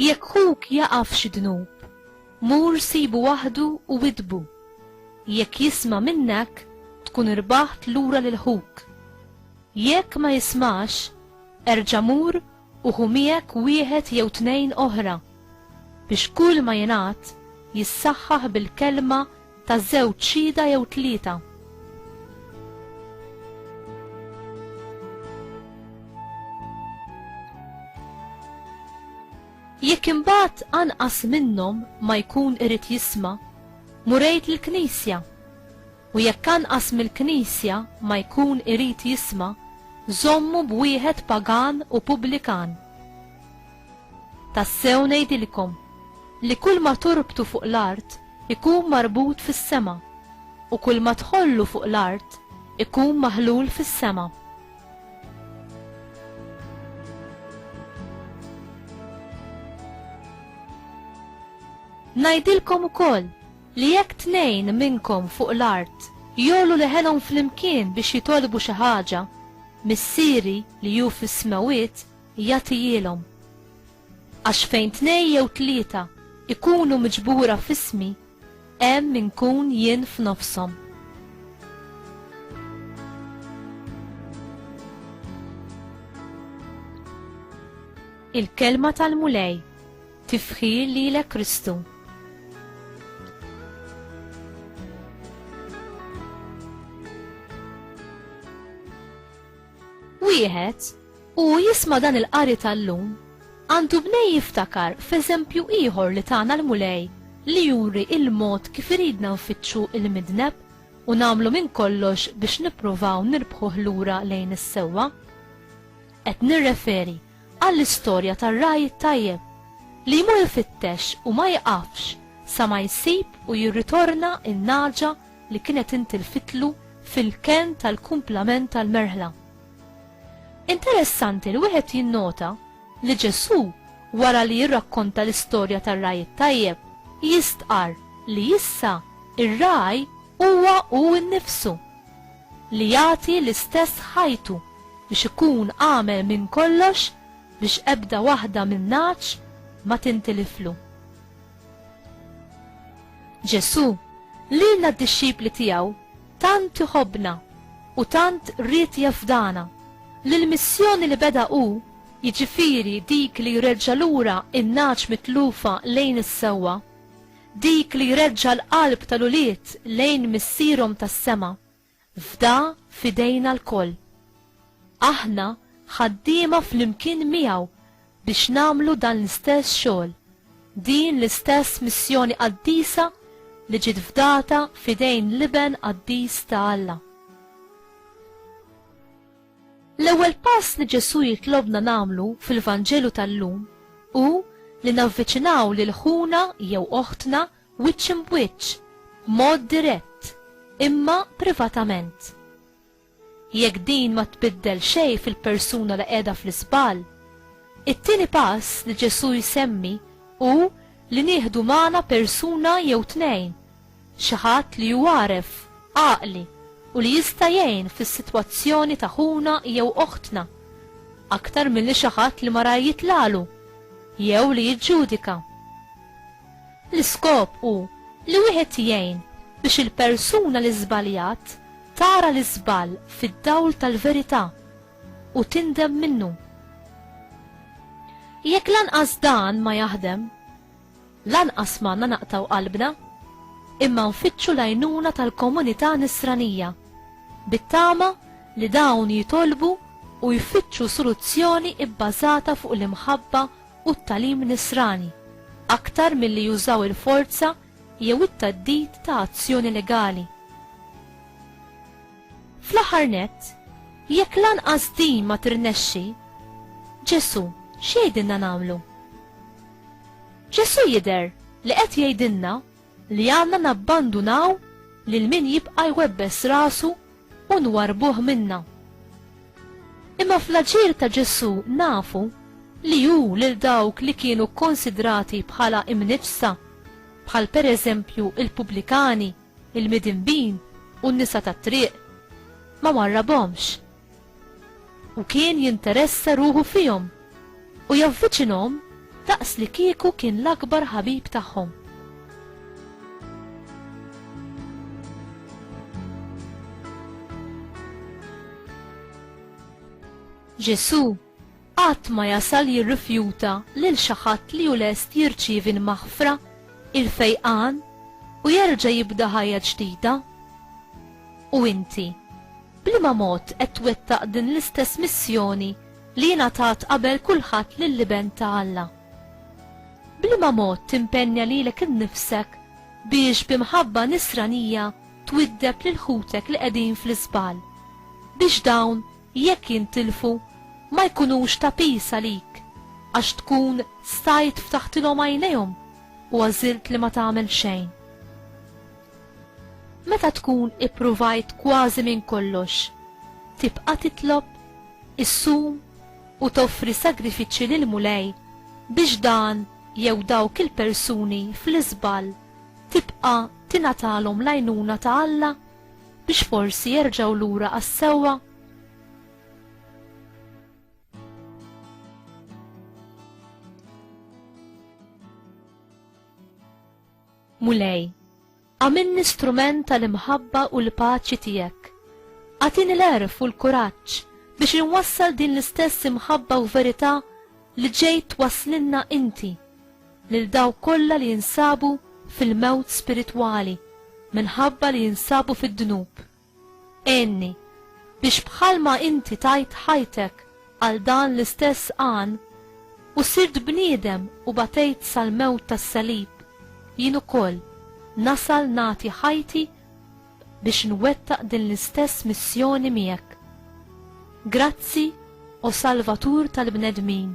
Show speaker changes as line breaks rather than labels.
Jekk ħuk jaqaf xi dnub, mur sibu waħdu u widbu. Jekk jisma' minnek, tkun irbaħt lura lil ħuk. Jekk ma jismax, erġa' mur u ħu miegħek wieħed jew tnejn oħra, biex kull ma jingħad jissaħħaħ bil-kelma ta' żewġ xhieda jew tlieta. Jekk imbagħad anqas minnhom ma jkun irid jisma', murejt lill-Knisja U jekk anqas mill-Knisja ma jkun irid jisma', żommu b'wieħed pagan u pubblikan. Tassew ngħidilkom, li kulma torbtu fuq l-art ikun marbut fis-sema, u kulma tħollu fuq l-art ikun maħlul fis-sema. Ngħidilkom ukoll, li jekk tnejn minnkom fuq l-art jogħlu leħenhom flimkien biex jitolbu xi ħaġa, Missieri li hu fis-smewwiet jagħtihielhom. Għax fejn tnejn jew tlieta ikunu miġbura f'ismi, hemm inkun jien f'nofshom. Il-kelma tal-Mulej Tifħir lilek Kristu. Wieħed u jisma dan il-qari tal-lum għandu bnej jiftakar f'eżempju ieħor li tagħna l-mulej li juri il-mod kif iridna nfittxu il-midneb u namlu minn kollox biex nippruvaw nirbħuh lura lejn is-sewwa. Qed nirreferi għall-istorja tar-ragħaj it-tajjeb li jmur ifittex u ma jiqafx sa ma jsib u jirritorna n-nagħġa li kienet intilfitlu fil-kenn tal-kumplament tal-merħla. Interessanti li wieħed jinnota li Ġesù wara li jirrakkonta l-istorja tar-ragħaj it-tajjeb jistqarr li issa ir-ragħaj huwa hu nnifsu. li jagħti l-istess ħajtu biex ikun għamel minn kollox biex ebda waħda minnhax ma tintiliflu. Ġesù, lilna d-dixxipli tiegħu, tant iħobbna u tant ried jafdana li l-missjoni li beda hu jiġifieri dik li jreġġa' lura n-nagħaġ mitlufa lejn is-sewwa, Dik li jreġġa' l-qalb tal-ulied lejn Missierhom tas-sema, fda f'idejna lkoll. Aħna ħaddiema flimkien miegħu biex nagħmlu dan l-istess xogħol, din l-istess missjoni qaddisa li ġiet fdata f'idejn l-Iben qaddis ta' Alla. L-ewwel pass li Ġesù jitlobna nagħmlu fil-Vanġelu tal-lum hu li navviċinaw lil ħuna jew oħtna wiċċ imb'wiċċ, b'mod dirett, imma privatament. Jekk din ma tbiddel xejn fil-persuna li qiegħda fl-iżball, it-tieni pass li Ġesù jsemmi hu li nieħdu magħna persuna jew tnejn Xi ħadd li hu għaref, għaqli u li jista' jgħin fis-sitwazzjoni ta' ħuna jew oħtna, aktar milli xi ħadd li marar jitlagħlu jew li jiġġudika. L-iskop hu li wieħed jgħin biex il-persuna li żbaljat tara l-iżball fid-dawl tal-verità u tindem minnu. Jekk lanqas dan ma jaħdem, Lanqas m'għandna naqtgħu qalbna, imma nfittxu l-għajnuna tal-komunità Nisranija, bit-tama li dawn jitolbu u jfittxu soluzzjoni bbażata fuq l-imħabba u t-tagħlim Nisrani, aktar milli jużaw il-forza jew it-theddid ta' azzjoni legali. Fl-aħħar nett, jekk lanqas din ma tirnexxi, Ġesù x'jgħidilna nagħmlu? Ġesù jidher li qed jgħidilna li għandna nabbandunaw lil min jibqa' jwebbes rasu u nwarrbuh minna. Imma fl-aġir ta' Ġesù nafu li hu lil dawk li kienu kkunsidrati bħala imniġġsa, bħal pereżempju l-pubblikani, il-midinbin u n-nisa tat-triq, ma warrabhomx. U kien jinteressa ruħu fihom u javviċinhom daqs li kieku kien l-akbar ħabib tagħhom. Ġesù Qatt ma jasal jirrifjuta lil xi ħadd li hu lest jirċievi l-maħfra, il-fejqan, u jerġa' jibda ħajja ġdida. U inti, b'liema mod qed twettaq din l-istess missjoni li ingħatat qabel kulħadd lill-Iben ta' Alla? B'liema mod timpenja lilek innifsek biex bi mħabba Nisranija twiddeb lil ħutek li qegħdin fl-iżball, biex dawn jekk jintilfu ma jkunux ta' piż għalik għax tkun stajt ftaħtilhom għajnejhom u għażilt li ma tagħmel xejn. Meta tkun ippruvajt kważi minn kollox, tibqa' titlob, issum u toffri sagrifiċċji lill-Mulej biex dan jew dawk il-persuni fl-iżball tibqa' tingħatalhom l-għajnuna ta' Alla? biex forsi jerġgħu lura għas-sewwa? Mulej, għamilni strument tal-imħabba u l-paċi tiegħek. Għatini l-erf u l-kuraġġ biex inwassal din l-istess imħabba u verità li ġejt waslinna inti. lil dawk kollha li jinsabu fil-mewt spiritwali minħabba li jinsabu fid-dnub. Għinni biex bħalma inti tajt ħajtek għal dan l-istess għan u sirt bniedem u batejt sal-mewt tas-salib, jien ukoll nasal nagħti ħajti biex nwettaq din l-istess missjoni miegħek. Grazzi, o Salvatur tal-bnedmin.